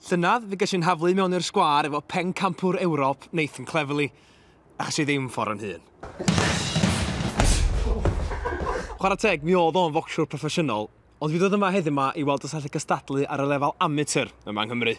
Llynedd fe ges i'n nhaflu i mewn i'r sgwâr efo pencampwr Ewrop Nathan Cleverley, achos i ddim ffordd yn hun. Chwarae teg, mi oedd o'n focsiwr proffesiynol, ond fi ddod yma heddiw ma i weld os allai gystadlu ar y lefel amateur yma yng Nghymru.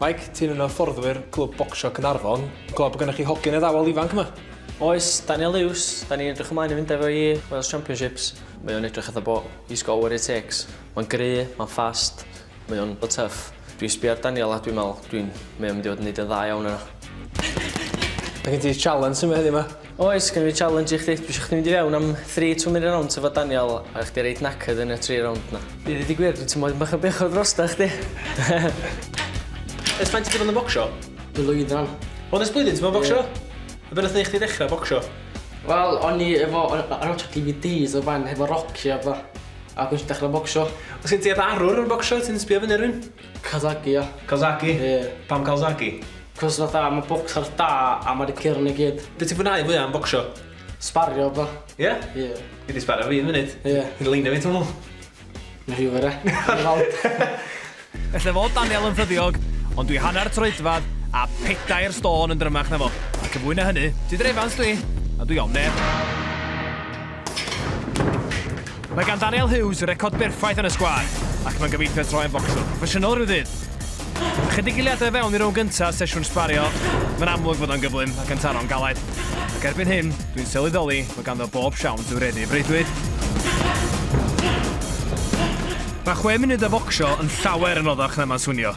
Mike, ti'n un o hyfforddwyr Clwb Bocsio Caernarfon. Dwi'n gweld bod gennych chi hogyn addawol ifanc yma. Oes, Daniel Lewis. Da ni'n edrych ymlaen i fynd efo i Wales Championships. Mae o'n edrych fatha bod he's got what it takes. Mae'n gry, mae'n ffast, mae o'n tough. Dwi'n sbio ar Daniel a dwi'n meddwl dwi'n... mae o'n mynd i fod yn neud yn dda iawn yna. Mae gen ti challenge yma heddiw 'ma. Oes gynno fi challenge i chdi. Dwi isio chdi mynd i fewn am three two minute rounds efo Daniel a chdi reit knackered yn y tri rownd 'na. I ddeud y gwir dwi'n teimlo tipyn bach o bechod drostoch chdi. Ers faint ti 'di bod yn bocsio? Blwyddan. O nes blwyddyn ti bo' yn bocsio? Ie. A be' nath neu' chdi ddechra bocsio? Wel o'n i efo o'n o'n watchio Dee Vee Dees o'r blaen hefo Rocky a petha. A dechra bocsio. Os gen ti arwr yn bocsio ti'n sbio fynny ar rywun? Kazaki ia. Kazaki? Ie. Pam Kazaki? Cos fatha ma' bocsars da a ma' 'di cyrn i gyd. Be' ti'n fwynhau fwya am bocsio? Sbario a petha. Ie? Ie. Gei di sbario fi un munud. Ie. Gei di leinio fi twmwl? Nes i wbod e. Gawn ni weld. Ella fod Daniel yn ffyddiog, ond dwi hanner troedfadd a pedair stôn yn drymach na fo. Ac yn fwy na hynny, Tudur Evans dw i, a dwi ofn neb. Mae gan Daniel Hughes record berffaith yn y sgwâr, ac mae'n gobeithio troi yn focswr proffesiynol ryw ddydd. Ychydig eiliadau fewn i rownd gyntaf sesiwn sbario, mae'n amlwg fod o'n gyflym ac yn taro'n galed. Ac erbyn hyn, dwi'n sylweddoli fod ganddo bob siawns i'w reddu i freuddwyd. Mae chwe munud o focsio yn llawer yn oddach na mae'n swnio.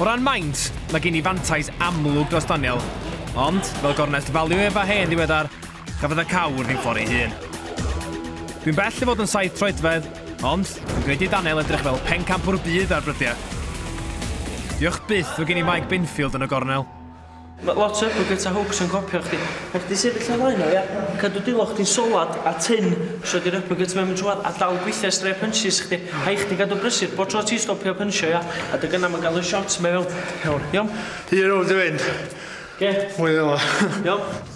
O ran maint, mae gen i fantais amlwg dros Daniel. Ond, fel gornest value ef a hen ddiweddar, cafodd y cawr ddim ffordd ei hun. Dwi'n bell i fod yn saith troedfedd, ond dwi'n gwneud i Daniel edrych fel pencampwr byd ar brydiau. Diolch byth fod gen i Mike Binfield yn y gornel. Mae lot o hypocrites a hooks yn copio chdi. Mae chdi sefyll ar flaen nhw, ia? Cadw dy look di'n solad a tynn os ydi'r hypocrite mewn trwad a dal gweithio i straeon punches chdi. Rhaid chdi gadw brysur bob tro ti'n stopio pynsio, ia? A dy gynnau mae'n gael y shots 'ma i fewn. Iawn? Iawn? Ti rown dy fynd. Oce. Mwy o fel'a. Iawn?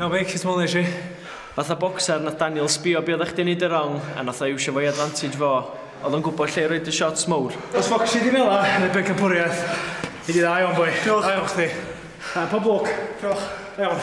Iawn meic, sut mowlais i? Fatha bocser nath Daniel sbio be oddach chdi'n neud yn rong a nath o iwsio fo i advantage fo. Odd o'n gwbo lle i roid y shots mowr. Os focsio di fela yn y bencampwriaeth, nei di dda iawn boi. Diolch. Da iawn chdi. Da, pob lwc. Diolch. Da iawn.